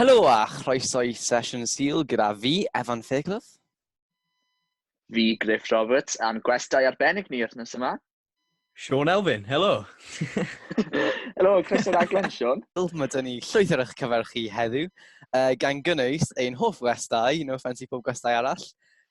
Helo a chroeso i sesiwn Sul gyda fi, Evan Fairclough. Fi, Griff Roberts, a'n gwestau arbennig ni wythnos yma. Sean Elfyn, helo! helo, Chris o'r aglen, Sean. Mae dyn ni llwyth ar eich cyfer chi heddiw, uh, gan gynnwys ein hoff gwestau, no offense i pob gwestau arall,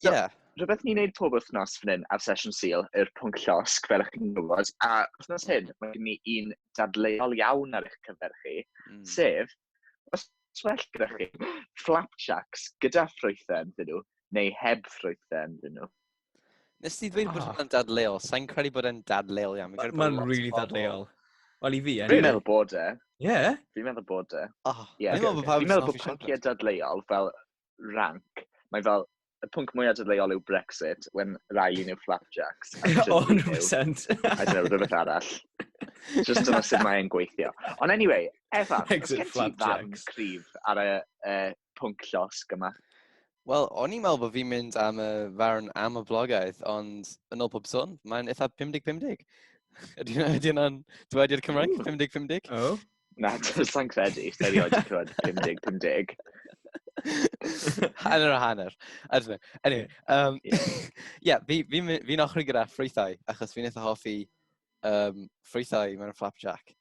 So, yeah. Rhywbeth ni'n neud pob wythnos fan hyn ar Sesiwn Sul yw'r pwnc llosg, fel ych chi'n gwybod, a wythnos hyn mae gen ni un dadleuol iawn ar eich cyfer chi, mm. sef, os well gyda chi, flapjacks gyda ffrwythen dyn nhw, neu heb ffrwythen dyn nhw. Nes ti ddweud bod ah. hwnna'n dadleuol, sa'n credu bod e'n dadleuol iawn. Mae'n really dadleuol. Wel i fi, anyway. Fi'n meddwl bod e. Ie? Fi'n meddwl bod e. Oh, yeah. Fi'n meddwl bod pawb yn meddwl bod pynciau dadleuol fel rank, mae fel, y pwnc mwyaf dadleuol yw Brexit, when Riley yw Flapjacks. O, 100%. I don't know, rhywbeth arall. Just dyna sut mae'n gweithio. Ond anyway, Efa, os gen ti fan cryf ar y uh, pwnc llosg yma? Wel, o'n i'n meddwl bod fi'n mynd am y farn am y blogaeth, ond yn ôl pob sôn, mae'n eitha 50-50. Ydy hwnna'n dweud i'r Cymraeg? 50-50? O. Na, sa'n credu. Sa'n rioed wedi clywed 50, 50. hanner o hanner. I don't know. Anyway, um, yeah, fi'n fi, fi, fi ochr gyda ffrwythau, achos fi'n eitha hoffi um, ffrwythau mewn flapjack.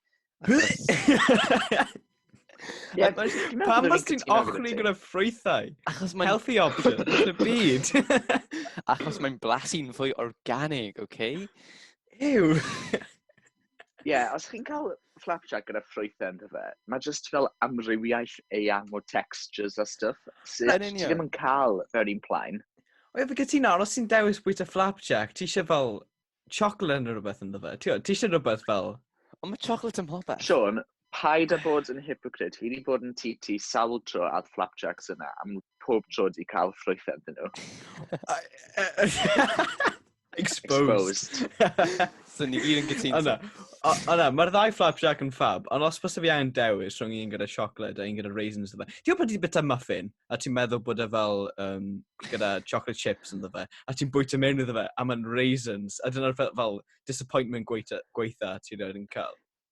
Yeah, Pam bys ti'n ochri gyda ffrwythau? Achos mae'n... Healthy option yn y byd. Achos mae'n blasu'n fwy organig, oce? Okay? Ew! Ie, yeah, os chi'n cael flapjack gyda ffrwythau ynddo fe, mae jyst fel amrywiaeth eang o textures a stuff sydd ti ddim yn cael mewn un plaen. O ie, fi gytuno, ond os ti'n dewis bwyta flapjack, ti eisiau fel chocolate yn rhywbeth ynddo fe. Ti eisiau rhywbeth fel... Ond mae chocolate yn popeth. Sean, paid a bod yn hypocrite. Fi wedi bod yn ti ti sawl tro a'r flapjacks yna, am pob tro di cael ffrwythau dyn nhw. Exposed. so ni gyd yn gytun. Yna, yna, mae'r ddau flapjack yn ffab, ond os bys fi angen dewis rhwng un gyda siocled a un gyda raisins dda. Ti'n gwybod ti'n bita muffin, a ti'n meddwl bod e fel um, gyda chocolate chips yn dda, a ti'n bwyta mewn iddo fe, a mae'n raisins, a dyna'r fel, fel disappointment gweitha, gweitha ti'n rhaid yn cael.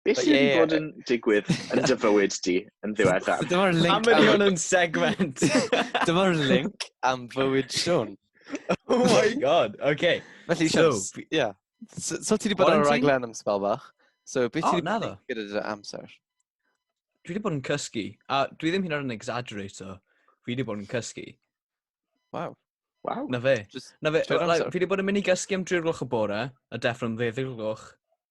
Be But sydd wedi yeah. bod yn digwydd yn dy fywyd di yn ddiweddar? Dyma'r link Am am... ydi yn segment. Dyma'r link am fywyd Sean. oh my god, oce. Felly, so, so, yeah. So, so ti wedi bod ar y raglen am spel bach? So, beth oh, ti wedi bod gyda dy amser? Dwi wedi bod yn cysgu, a dwi ddim hyn ar yn exaggerator. Fi wedi bod yn cysgu. Wow. Wow. Na fe. Just, Na fe, like, fi wedi bod yn mynd i gysgu am 3 gloch y bore, a deffro'n ddeddeg gloch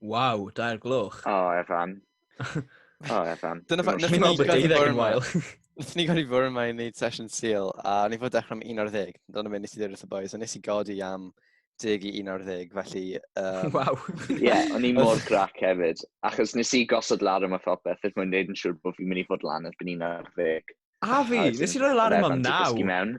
Waw, dair gloch. O, oh, Efan. O, oh, Efan. Dyna fa... Nes ni'n bod deuddeg yn wael. Nes ni'n gael i fwrw yma i wneud session seal, a ni fod dechrau am 11. Dyna fe nes i ddweud wrth y boys, a nes i godi am deg i 11, felly... Um... Waw. Ie, yeah, o'n i mor grac hefyd. Achos nes i gosod lar yma phopeth, er mwyn neud yn siŵr bod fi'n mynd i fod lan erbyn 11. A fi, nes i roi lar yma am 9.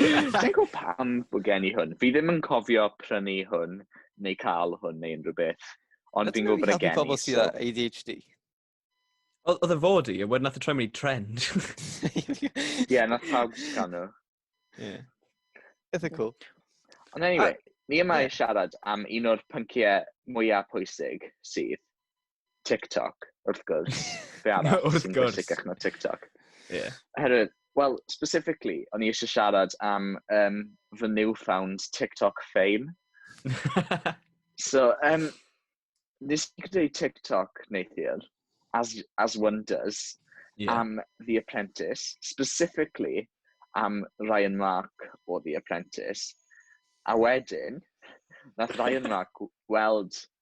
Dwi'n gwybod pam bod gen i hwn. Fi ddim yn cofio prynu hwn, neu cael hwn, neu unrhyw beth. Ond fi'n gwybod bod e gen i. Ydy pobl sydd â ADHD? Oedd y fod i, a wedyn nath y troi mynd i trend. Ie, nath pawb sgan nhw. Ie. Eitha cool. Ond anyway, ni yma i siarad am un o'r pynciau mwyaf pwysig sydd, TikTok, wrth gwrs. Be arall no, sy'n bwysicach na TikTok? Yeah. Oherwydd, well, specifically, o'n i eisiau siarad am um, fy newfound TikTok fame. so, um, nes i greu TikTok neithiwr, as, as one does, yeah. am The Apprentice, specifically am Ryan Mark o The Apprentice. A wedyn, nath Ryan Mark weld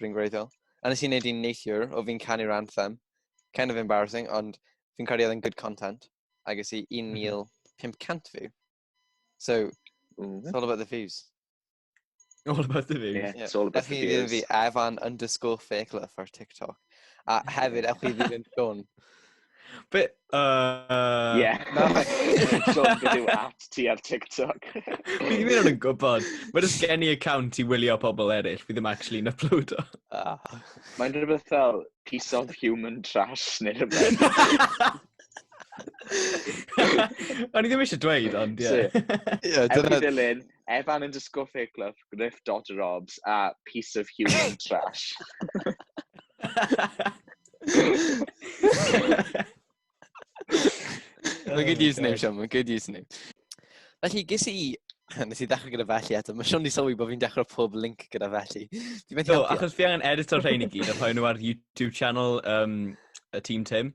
Rwy'n gwreiddiol. A nes i wneud un neithiwr o fi'n canu'r anthem. Kind of embarrassing, ond fi'n credu oedd yn good content. A ges i 1,500 mhm. view. So, mm. it's all about the views. All about the views. Yeah, yeah. it's all about the views. Fi, Evan underscore Fakelove ar TikTok. A hefyd, ewch i ddilyn Sean. Be? Uh, yeah. so, beth yw at ti ar TikTok? Fi ddim yn gwybod. Mae jyst gen i account i wylio pobl eraill. Fi ddim actually yn uploado. Ah. Mae'n rhywbeth fel piece of human trash neu rhywbeth. O'n i ddim eisiau dweud, ond ie. Yeah. yeah, dyna... Ewch i ddilyn Evan yn disco fake love, Griff dodge robs a piece of human trash. Mae'n good oh username, Sean. Mae'n good username. Felly, ges i... Nes i ddechrau gyda felly eto. Mae Sean di sylwi bod fi'n dechrau pob link gyda felly. Do, achos fi angen edito'r rhain i gyd a rhoi nhw ar YouTube channel um, y Team Tim.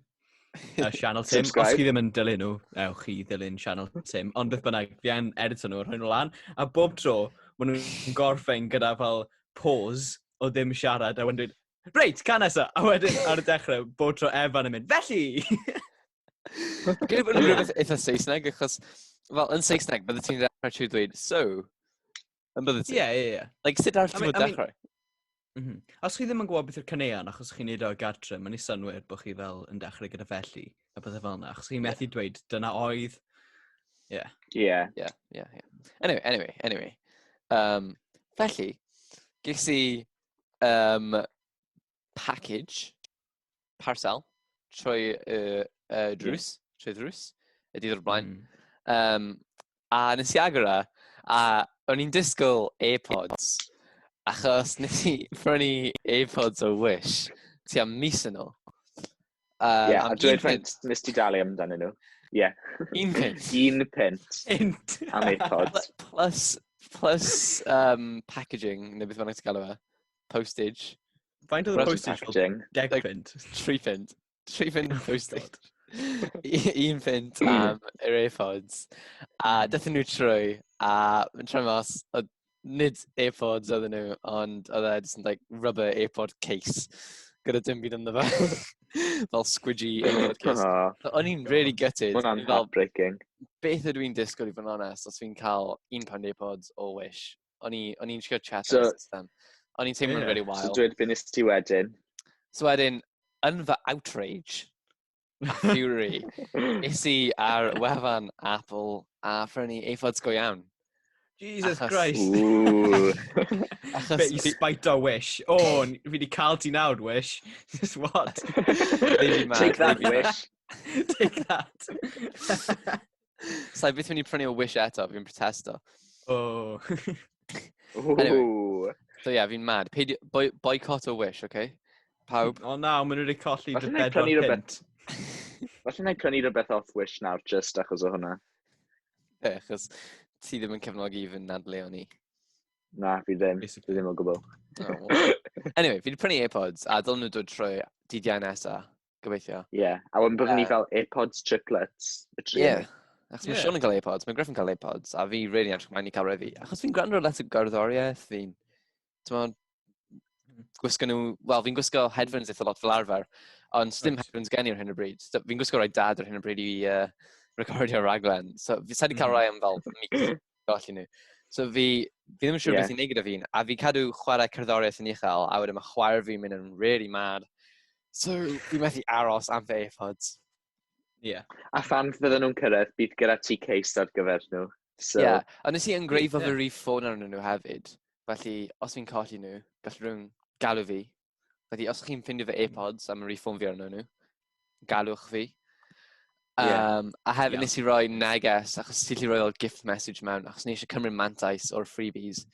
uh, Channel Tim. Os chi ddim yn dilyn nhw, ewch chi dilyn Channel Tim. Ond beth bynnag, fi yn edito nhw, rhoi nhw lan. A bob tro, maen nhw'n gorffen gyda fel pause o ddim siarad. A wedyn dweud, reit, can nesa. A wedyn ar y dechrau, bob tro Evan yn mynd, felly! Gwyd bod nhw'n rhywbeth eitha Saesneg, achos fel yn Saesneg, bydde ti'n rhaid trwy dweud, so, Yn bydde ti? Ie, ie, ie. Like, sut arall ti'n meddwl dechrau? Mhm. Os chi ddim yn gwybod beth yw'r caneuon, achos chi'n neud o o gartre, mae'n ei synwyr bod chi fel yn dechrau gyda felly, a bydde fel yna, achos chi'n methu dweud, dyna oedd, Ie. Ie. Ie, ie, ie. Anyway, anyway, anyway. Um, felly, ges i um, package, parcel, trwy y uh, drws, yeah. trwy ddrws, y dydd o'r blaen. Mm. Um, a nes i agor e, a o'n i'n disgwyl AirPods, achos nes i prynu AirPods o Wish, ti am mis yn ôl. Um, yeah, a dwi'n prynt, nes ti dalu amdano nhw. Yeah. Un pint. Un pint. Un Am AirPods. Plus, plus um, packaging, neu beth bynnag ti'n galw fe. postage. Faint oedd y postage? Packaging. Deg pint. Tri pint. Tri pint oh postage. Un pint am yr AirPods. A dethon nhw trwy, a yn trwy mas, oedd nid AirPods oedd nhw, ond oedd e just yn like rubber AirPod case gyda dim byd ynddo fe. fel squidgy aelod cys. O'n i'n really gutted. Mae'n hwnna'n heartbreaking. Beth ydw i'n disgwyl i fod yn onest, os fi'n cael un pound pods o Wish, O'n i'n siarad chat so, ar system. O'n i'n teimlo'n yeah. very wild. So dweud beth nes ti wedyn. So wedyn, yn fy outrage, a fury, is i ar wefan Apple a ffrynu eifods go iawn. Jesus achos... Christ. achos... Be i spite o Wish. O, oh, fi wedi cael ti nawr, Wish. Just what? Take that, Wish. Take that. Sa'i byth mynd i prynu o Wish eto, fi'n protesto. Oh. anyway, so yeah, fi'n mad. Peidio, boi, boycott o Wish, okay? Pawb. O oh, na, maen nhw wedi colli dy bedwar pint. Felly na i prynu rhywbeth off Wish nawr, just achos o hwnna. Be, achos ti ddim yn cefnogi i fynd nad leon ni. Na, fi ddim. Fi ddim o gwbl. Oh, anyway, fi wedi prynu AirPods a dylen nhw dod trwy dydd Iau nesa. Gobeithio. Ie, yeah. a wedyn byddwn ni fel AirPods triplets. Ie, yeah. achos yeah. mae Sean yn cael AirPods, mae Griff yn cael AirPods, a fi really edrych mlaen i cael refi. Achos fi'n gwrando let y garddoriaeth, fi'n... Ti'n gwisgo nhw... Wel, fi'n gwisgo headphones eitha lot fel arfer, ond dim right. headphones gen i ar hyn o bryd. Fi'n gwisgo rhoi dad ar hyn o bryd i uh, recordio raglen. So, fi wedi cael mm-hmm. rhai am fel golli nhw. So fi, fi ddim yn siŵr yeah. beth i'n neud gyda fi'n, a fi cadw chwarae cerddoriaeth yn uchel, a wedyn mae chwarae fi'n mynd yn really mad. So fi methu aros am fy eifod. Yeah. A fan fydden nhw'n cyrraedd, bydd gyda ti case ar gyfer nhw. So, yeah, ond nes i yngreifo yeah. fy rif ffôn arnyn nhw hefyd. Felly, os fi'n colli nhw, gallwn nhw'n galw fi Felly, os chi'n ffindio fy AirPods am yr i ffôn fi arno nhw, galwch fi. Um, yeah. A hefyd yeah. nes i roi neges, achos ti lli roi fel gift message mewn, achos nes i cymryd mantais o'r freebies.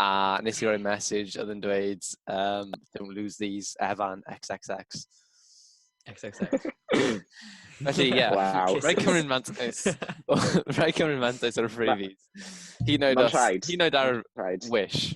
A nes i roi message oedd yn dweud, um, don't lose these, Evan, XXX. XXX. Felly, ie. Yeah. Wow. Rai cymryd mantais. Rai cymryd mantais o'r freebies. Hyd yn oed ar y wish.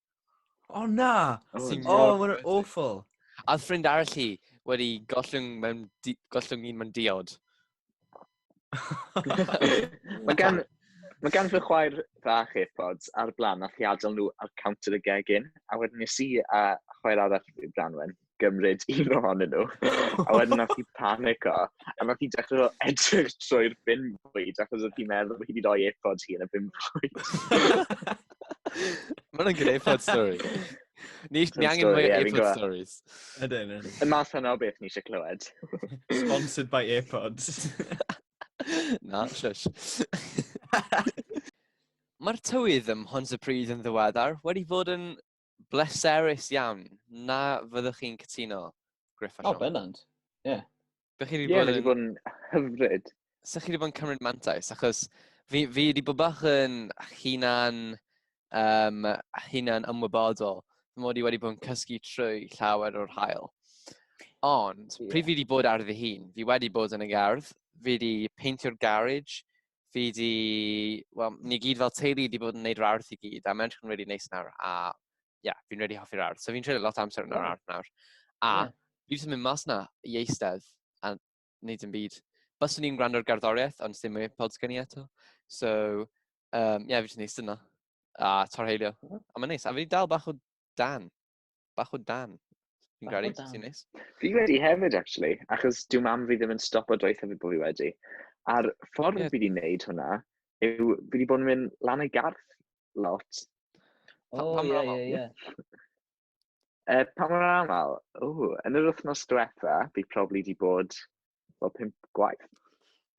O na! Oh, Sy'n oh, mor mae'n awful. A oedd ffrind arall hi wedi gollwng, mewn, di, gollwng un mewn diod. mae gan, mae gan fy chwaer fach AirPods ar blaen a thi adael nhw ar counter y gegin. A wedyn nes i a chwaer arall i Branwen. gymryd un ohonyn nhw. a wedyn nath hi panico, a nath hi dechrau fel edrych trwy'r bin bwyd, achos oedd hi'n meddwl bod hi wedi rhoi efodd hi yn y bin bwyd. Mae'n good efodd story. Ni, ni angen mwy yeah, efodd stories. Ydyn. Y math yna o beth ni eisiau clywed. Sponsored by AirPods. Na, shush. Mae'r tywydd ym Mhontypridd yn ddiweddar wedi bod yn bleserus iawn. Na fyddwch chi'n cytuno, Griff a Sean? O, bennant. Ie. Yeah. Bych chi wedi bod yn... Ie, bod yn hyfryd. Sa'ch chi wedi bod yn cymryd mantais, achos fi, fi wedi bod bach yn hunan, um, hunan ymwybodol. Fy mod i wedi bod yn cysgu trwy llawer o'r hael. Ond, yeah. pryd fi wedi bod ar fy hun, fi wedi bod yn y gardd, fi wedi peintio'r garage, fi di, wel, ni gyd fel teulu wedi bod yn gwneud yr ardd i gyd, a mae'n edrych yn really neis nawr, a ie, yeah, fi'n really hoffi'r ardd. So fi'n treulio lot amser yn yr ardd nawr. A yeah. fi wedi mynd mas na i eistedd a wneud yn byd. Byswn i'n gwrando'r garddoriaeth, ond sy'n mwy pods gen i eto. So, um, ie, yeah, fi wedi gwneud sy'n na. A torheilio. A mae'n neis. A fi dal bach o dan. Bach o dan. Fi'n gael ei sy'n neis. Fi wedi hefyd, actually, achos diw mam fi ddim yn stop o doeth hefyd bod fi wedi. A'r ffordd yeah. fi wedi wneud hwnna yw, fi wedi bod yn mynd lan ei garth lot. O, oh, ie, ie, ie. Uh, pa mor aml? O, yn yr wythnos diwetha, fi probably wedi bod fel pimp gwaith.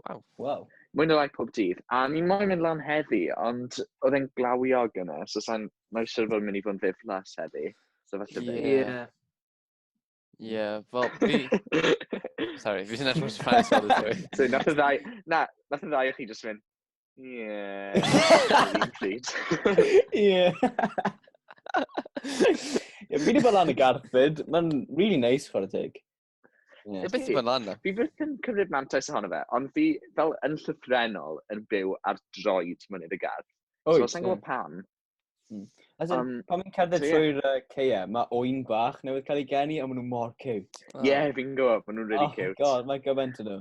Waw. Waw. Mwy na lai pob dydd. A ni moyn mynd lan heddi, ond oedd e'n glawio gyna, so sa'n mae siwr fod yn mynd i fod yn ddiflas heddi. So falle fe. Ie. Yeah. Ie, yeah, fel, fi... Sorry, fi sy'n edrych yn Spanish all the time. So, nath y ddau... Na, nath y ddau o chi just mynd... Yeah. yeah. Ie, fi wedi bod lan y garfyd. Mae'n really nice, chwarae teg. Yeah. Beth yw'n lan na? Fi beth yn cymryd mantais ohono fe, ond fi fel yn llythrenol yn byw ar droed mynydd y gardd. Oes, so, sa'n gwybod pam. Hmm. As in, um, pan fi'n cerdded so, trwy'r yeah. uh, ceia, mae oen bach newydd cael ei geni, ond maen nhw mor cute. Ie, oh. yeah, fi'n gwybod, maen nhw'n really oh, cute. Oh god, mae gymaint yn nhw.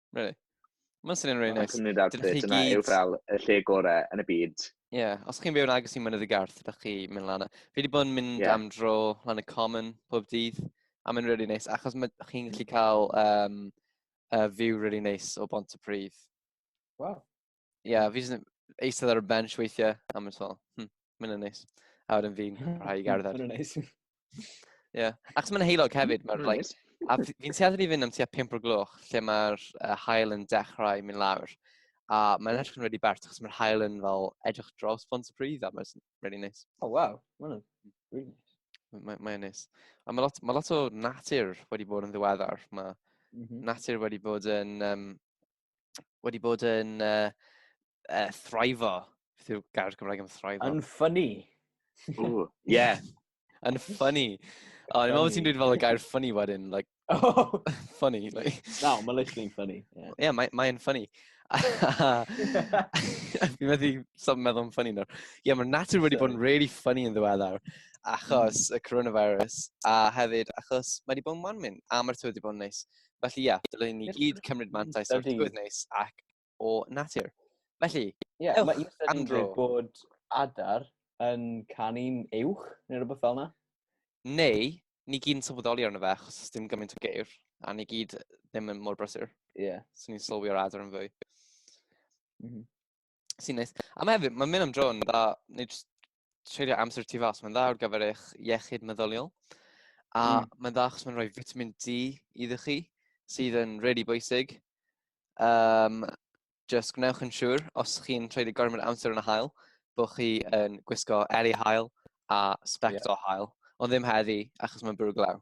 Really. Mae'n syniad rili neis. Cymru Dad Dyna chi gyd... yw fel y lle gorau yn y byd. Ie, yeah. os chi'n byw yn agos i Mynydd y Garth, ydych chi mynd lan. Fi wedi bod yn mynd yeah. am dro lan y Common pob dydd, a mae'n really neis, achos chi'n gallu cael um, uh, view really neis o Bont y Pridd. Wow. Ie, fi jyst yn eistedd ar y bench weithiau, a mae'n fel, hm, mae'n yn neis. A wedyn fi'n rhai i gerdded. Mae'n neis. Ie. Ac mae'n heilog hefyd, mae'r like, a fi'n tueddu i fynd am tua 5 o'r gloch, lle mae'r uh, hael yn dechrau mynd lawr. A mae'n edrych yn redi bert, achos mae'r hael yn fel edrych dros bont y pridd, a mae'n redi neis. O, oh, waw. Mae'n really neis. Mae'n mae neis. A mae lot, ma lot o natur wedi bod yn ddiweddar. Mae mm -hmm. natur wedi bod yn um, wedi bod yn uh, uh, thrivo. Beth yw'r gair Gymraeg am thrivo? Yn ffynnu. Ie. yeah. Yn ffynnu. O, ni'n meddwl ti'n dweud fel y gair ffynnu wedyn, like, oh. funny. Like. No, mae literally'n ffynnu. Yeah, yeah mae'n mae ffynnu. Fi'n meddwl sop meddwl yn ffynnu nawr. Ie, yeah, mae natur wedi bod yn really ffynnu yn ddiweddar achos mm. y coronavirus a hefyd achos mae wedi bod yn wan mynd a mae'r tywydd wedi bod yn neis. Felly ie, yeah, dylwn ni gyd cymryd mantais o'r tywydd neis ac o natur. Felly, yeah, ewch, mae Andro. bod adar yn canu'n uwch neu rhywbeth fel yna. Neu, ni gyd yn sylweddoli arno fe, achos dim gymaint o geir, a ni gyd ddim yn mor brysur. Ie. Yeah. So ni'n sylwi o'r adar yn fwy. Mm -hmm. sy'n neis. A mae hefyd, mae'n mynd am dro yn dda, neu jyst treulio amser tu fas, mae'n dda ar gyfer eich iechyd meddyliol. A mm. mae'n dda achos mae'n rhoi vitamin D iddo chi, sydd yn really bwysig. Um, just gwnewch yn siŵr, os chi'n treulio gormod amser yn y hael, bod chi yn gwisgo eli hael a spect yeah. o hael, ond ddim heddi achos mae'n bwrw glaw.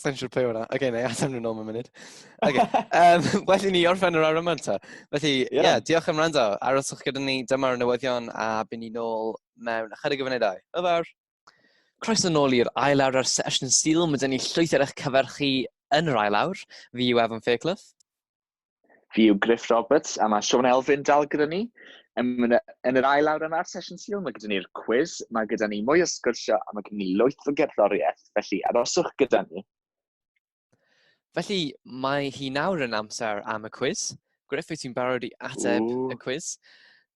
Sa'n siŵr pe o'na. Oce, neu atam nhw'n ôl mewn munud. Oce, um, well i ni orffen yr awr yma ta. Felly, ie, yeah. yeah, diolch am rando. Aroswch gyda ni dyma'r newyddion a byn ni nôl mewn ychydig o funudau. Hwyl fawr! Croeso nôl i'r ail awr ar Sesiwn Sil. Mae dyn ni llwyth ar eich cyfer chi yn yr ail awr. Fi yw Evan Fairclough. Fi yw Griff Roberts, a mae Sean Elfyn dal gyda ni. Yn, yn yr ail awr yma'r sesiwn syl, mae gyda ni'r cwiz, mae gyda ni mwy o sgyrsio, a mae gyda ni lwyth o gerddoriaeth, felly aroswch gyda ni. Felly, mae hi nawr yn amser am y cwiz. Griff, wyt ti'n barod i ateb Ooh. y cwiz?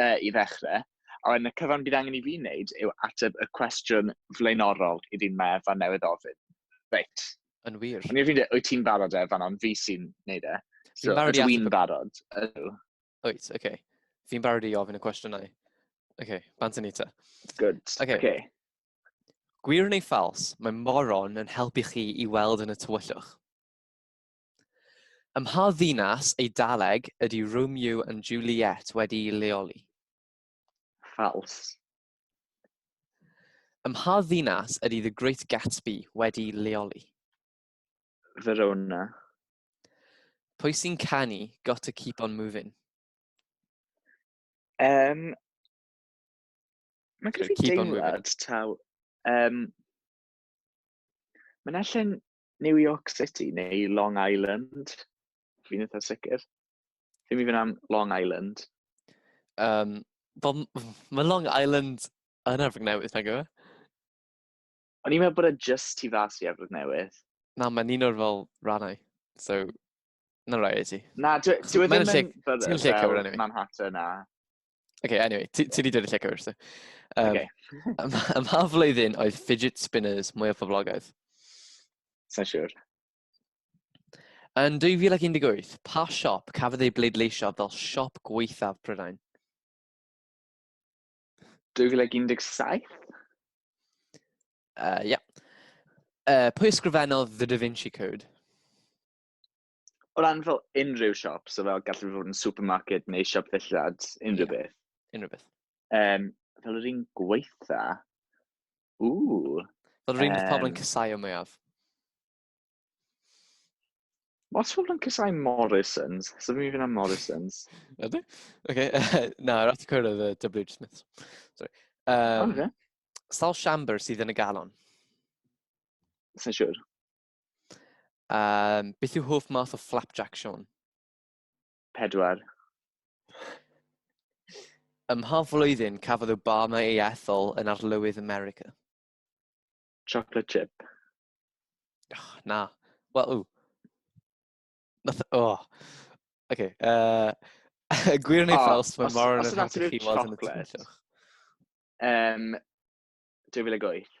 uh, i ddechrau, a wedyn y cyfan bydd angen i fi wneud yw ateb y cwestiwn flaenorol i ddyn mae Efa newydd ofyn. Reit. Yn wir. Ond i'r fi'n dweud, wyt ti'n barod Efa, ond fi sy'n wneud e. So, ydw i'n barod? Ydw. Wyt, oce. Okay. Fi'n barod i ofyn y cwestiynau. Oce, okay, bant yn eita. Good. Oce. Okay. Okay. Gwir neu ffals, mae moron yn helpu chi i weld yn y tywyllwch. Ym mha ddinas Eidaleg ydy Romeo and Juliet wedi'i leoli? Ffals. Ym mha ddinas ydy The Great Gatsby wedi'i leoli? Verona. Pwy sy'n canu Got to Keep on Moving? Um, Mae'n gyda fi deimlad taw... Um, Mae'n allan New York City neu Long Island? Fi'n eitha sicr. Fi'n mynd am Long Island. Um, Bob, mae Long Island yn Efrog Newydd, nag yw e? O'n i'n meddwl bod e just tu fas i Efrog Newydd. Na, mae'n un o'r fel rannau. So, na rai i ti. Na, dwi e ddim yn... Ti'n gallu cywir anyway. Manhattan a... okay, anyway, ti wedi dweud y lle cywir. So. Um, okay. Ym mha flwyddyn oedd fidget spinners mwy o poblogaidd? Sa'n siwr. Yn 2018, pa siop cafodd ei bleidleisio fel siop gweithaf Prydain? 2017? Uh, yeah. Uh, pwy ysgrifennodd The Da Vinci Code? O ran fel unrhyw siop, so fel gallu fod yn supermarket neu siop ddillad, unrhyw yeah. beth. Unrhyw beth. Um, fel yr un gweitha, ww. Fel yr un um, pobl yn cysau o mwyaf. Os pobl yn cysau Morrisons, so fi'n mynd am Morrisons. Ydy? Oce, na, rhaid i cwrdd y W.H. Smith. Sorry. Um, okay. Sal Siambr sydd yn y galon. Sa'n siwr. Um, beth yw hoff math o flapjack, Sean? Pedwar. Ym mha flwyddyn cafodd Obama ei ethol yn arlywydd America? Chocolate chip. Oh, na. Wel, ww. Nath, oh. Okay, uh, gwir neu ffals, mae Moran yn helpu chi weld yn y twyllwch. Um, 2008.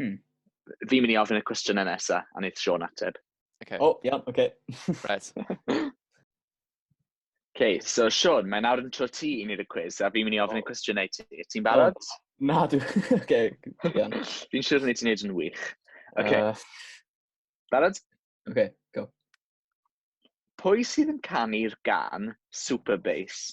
Hmm. Fi'n mynd i ofyn y cwestiynau nesaf, a wneud Sean ateb. Okay. O, oh, iawn, oce. Okay. right. okay, so Sean, mae'n awr yn tro ti i wneud y cwiz, a fi'n mynd i ofyn oh. y cwestiynau ti. Ti'n barod? Oh. Na, dwi... Oce, iawn. Fi'n siŵr ni ti'n neud yn wych. Oce. Barod? Oce, go. Pwy sydd yn canu'r gan Super Bass?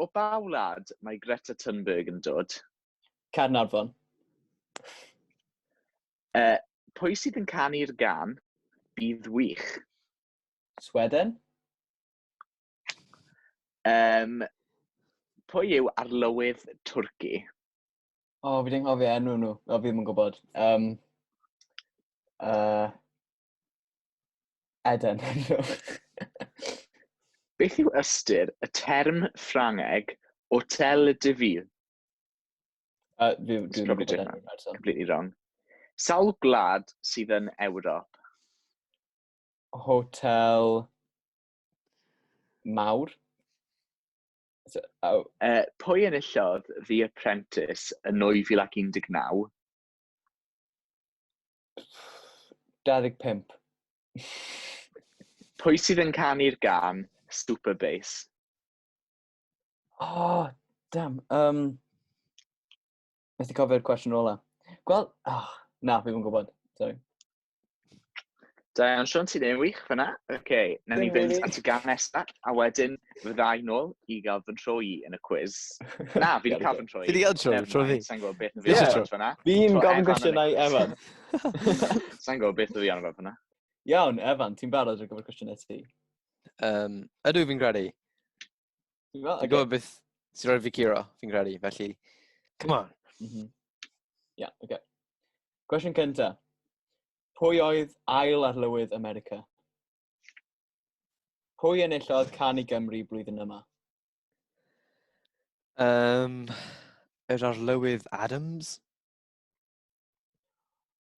O ba wlad mae Greta Thunberg yn dod? Caernarfon. Uh, pwy sydd yn canu'r gan? Bydd wych. Sweden? Um, pwy yw arlywydd Twrci? O, oh, fi ddim cofio enw nhw. O, fi ddim yn gwybod. Um, uh, Eden. Beth yw ystyr y term Ffrangeg hôtel de ville? Uh, fi, It's probably different. Completely wrong. Sawl gwlad sydd yn Ewrop? Hotel mawr. So, oh. uh, pwy enillodd The Apprentice yn 2019? 25. Pwy sydd yn canu'r gan Super Bass? Oh, damn. Um, Methu cofio'r cwestiwn ola. Gweld... Oh, na, fi ddim yn gwybod. Sorry. Da iawn, Sean, ti'n ei wych fyna. Oce, okay, na ni fynd at y gan nesaf, a wedyn fyddai nôl i gael fy nhro i yn y cwiz. Na, fi wedi cael fy nhro i. Fi wedi cael tro, tro fi. Sa'n gwybod beth yn fi o'n fyna. Fi'n gofyn gwestiynau Evan. Sa'n gwybod beth yn fi o'n fyna. Iawn, Evan, ti'n barod ar gyfer cwestiynau ti? Um, ydw fi'n credu. Ti'n gwybod? Ti'n gwybod beth sy'n rhoi fi curo, fi'n credu, felly... Come on. Mm -hmm. yeah, okay. Cwestiwn cynta. Pwy oedd ail arlywydd America? Pwy enillodd can i Gymru blwyddyn yma? Um, yr arlywydd Adams?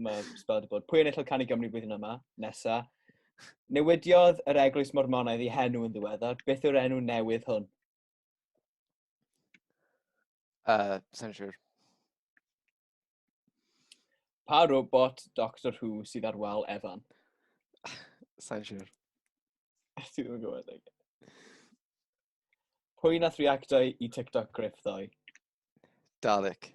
Mae spel wedi bod. Pwy yn enillodd canu Gymru blwyddyn yma? Nesa. Newidiodd yr Eglwys Mormonaidd i henw yn ddiweddar. Beth yw'r enw newydd hwn? Uh, Sa'n siŵr. Pa robot Doctor Who sydd ar wal Evan? Sa'n siŵr. Ti ddim yn gwybod. Okay. Pwy nath reactau i TikTok griff ddoe? Dalek.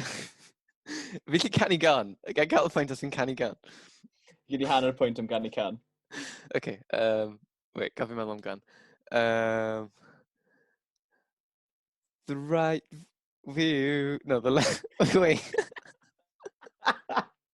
Fi lli canu gan. Gan cael y pwynt os ti'n canu gan. Fi di hanner pwynt am ganu can. Oce, okay, um, wait, gaf fi meddwl am gan. Um, the right view... No, the left... Wait.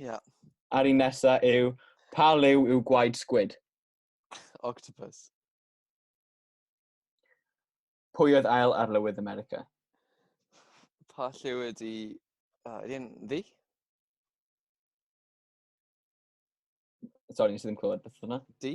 Ia. A'r un nesa yw, pa liw yw gwaed sgwyd? Octopus. Pwy oedd ail arlywydd America? Pa lliw ydi... Uh, ydi e'n ddi? Sorry, nes i ddim clywed beth yna. Di?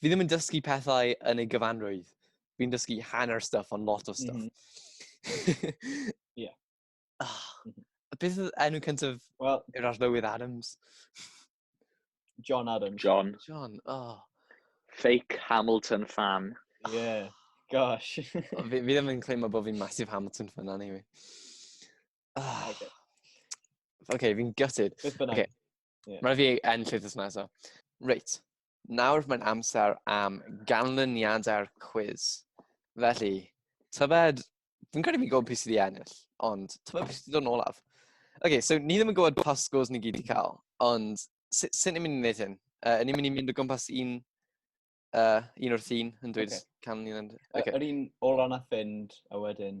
fi ddim yn dysgu pethau yn ei gyfanrwydd. Fi'n dysgu hanner stuff ond lot o stuff. Mm -hmm. yeah. oh, beth oedd enw cyntaf well, yr arlywydd Adams? John Adams. John. John, oh. Fake Hamilton fan. Yeah, gosh. fi, fi ddim yn claimo bod fi'n massive Hamilton fan anyway. Oh. Okay. okay, fi'n gutted. Beth bynnag. Okay. Yeah. Mae'n fi enll wythnos nesaf. Reit, nawr mae'n amser am ganlyniadau'r cwiz. Felly, tybed, fi'n credu fi'n gwybod pwy sydd wedi ennill, ond tybed pwy sydd wedi dod yn olaf. Oce, okay, so ni ddim yn gwybod pa scores ni gyd wedi cael, ond sut sy ni'n mynd i wneud hyn? Uh, ni'n mynd i mynd o gwmpas un, uh, un o'r thyn yn dweud okay. canlyniad. Okay. Yr un ola na fynd, a wedyn...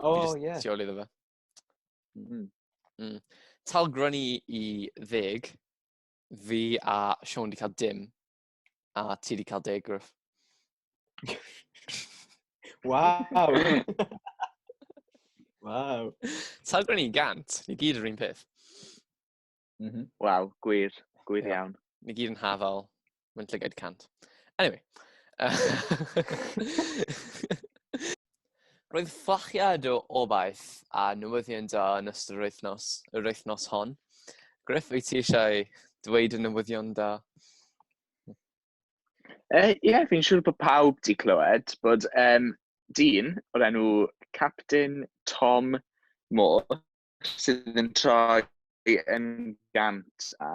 O, oh, ie. Yeah. Ti ôl iddo fe. Mm. Mm. Talgron i, i ddeg, fi a Sean di cael dim, a ti di cael deg, Griff. Waw! Waw! Talgron i gant, ni gyd yr un peth. Mm -hmm. Waw, gwir, gwir yeah. iawn. Ni gyd yn hafal, mae'n llygaid cant. Anyway. Roedd fflachiad o obaith a newyddion da yn ystod yr wythnos, yr wythnos hon. Griff, wyt ti eisiau dweud y newyddion da? Ie, uh, yeah, fi'n siŵr bod pawb di clywed bod um, dyn o'r enw Captain Tom Moore sydd yn troi yn gant a,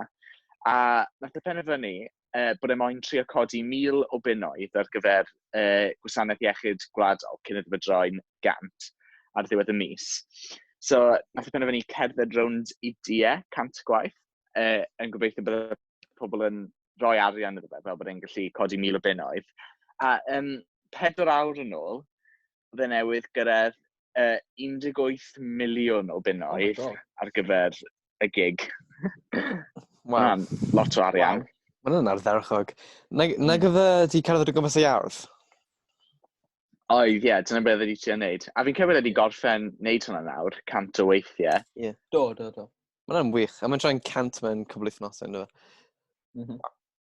a nath y e penderfynu uh, bod e moyn trio codi mil o bunnoedd ar gyfer uh, gwasanaeth iechyd gwladol cyn iddo fe droi'n gant ar ddiwedd y mis. So, nath y e penderfynu cerdded rownd i die cant gwaith, uh, yn gobeithio bod pobl yn rhoi arian iddo fe, fel bod e'n gallu codi mil o bunnoedd. A um, pedwar awr yn ôl, fe newydd gyrraedd uh, 18 miliwn o bunnoedd oh ar gyfer y gig. Wow. lot o arian. Wow. Mae'n yna'r ddewchog. Na, na hmm. gyda di cerdded o gwmpas ei ardd? Oedd, ie, dyna beth ydy ti'n neud. A fi'n cymryd ydy gorffen neud hwnna nawr, cant o weithiau. Ie. Yeah. Do, do, do. Mae'n wych. A mae'n tra'n cant mewn cwbl wythnosau, ynddo fe? Mm -hmm.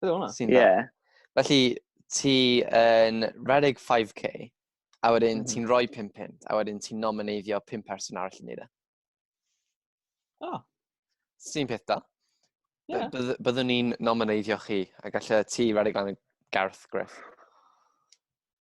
Bydde hwnna? Sy'n dda. Ie. Felly, ti yn rhedeg 5k, a wedyn mm -hmm. ti'n rhoi 5 pint, a wedyn ti'n nomineiddio 5 person arall yn neud e. O. Oh. Sy'n peth da. Yeah. Byddwn ni'n nomineiddio chi, a gallai ti rhedeg lan y garth, Griff.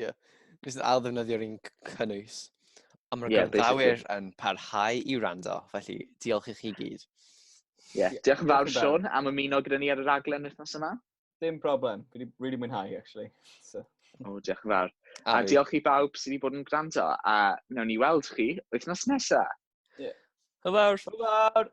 Ie. Nes yn ail ddefnyddio rhywun cynnwys. Ond mae'r yeah, gwrandawyr yn parhau i wrando, felly diolch i chi gyd. Ie, yeah. diolch yn fawr Sean am ymuno gyda ni ar y raglen wythnos yma. Dim problem, fi wedi really mwynhau, actually. So. O, oh, diolch yn fawr. A, a diolch i bawb sydd wedi bod yn gwrando, a wnawn ni weld chi wythnos nesaf. Ie. Yeah. Hwyl fawr. Hwyl fawr.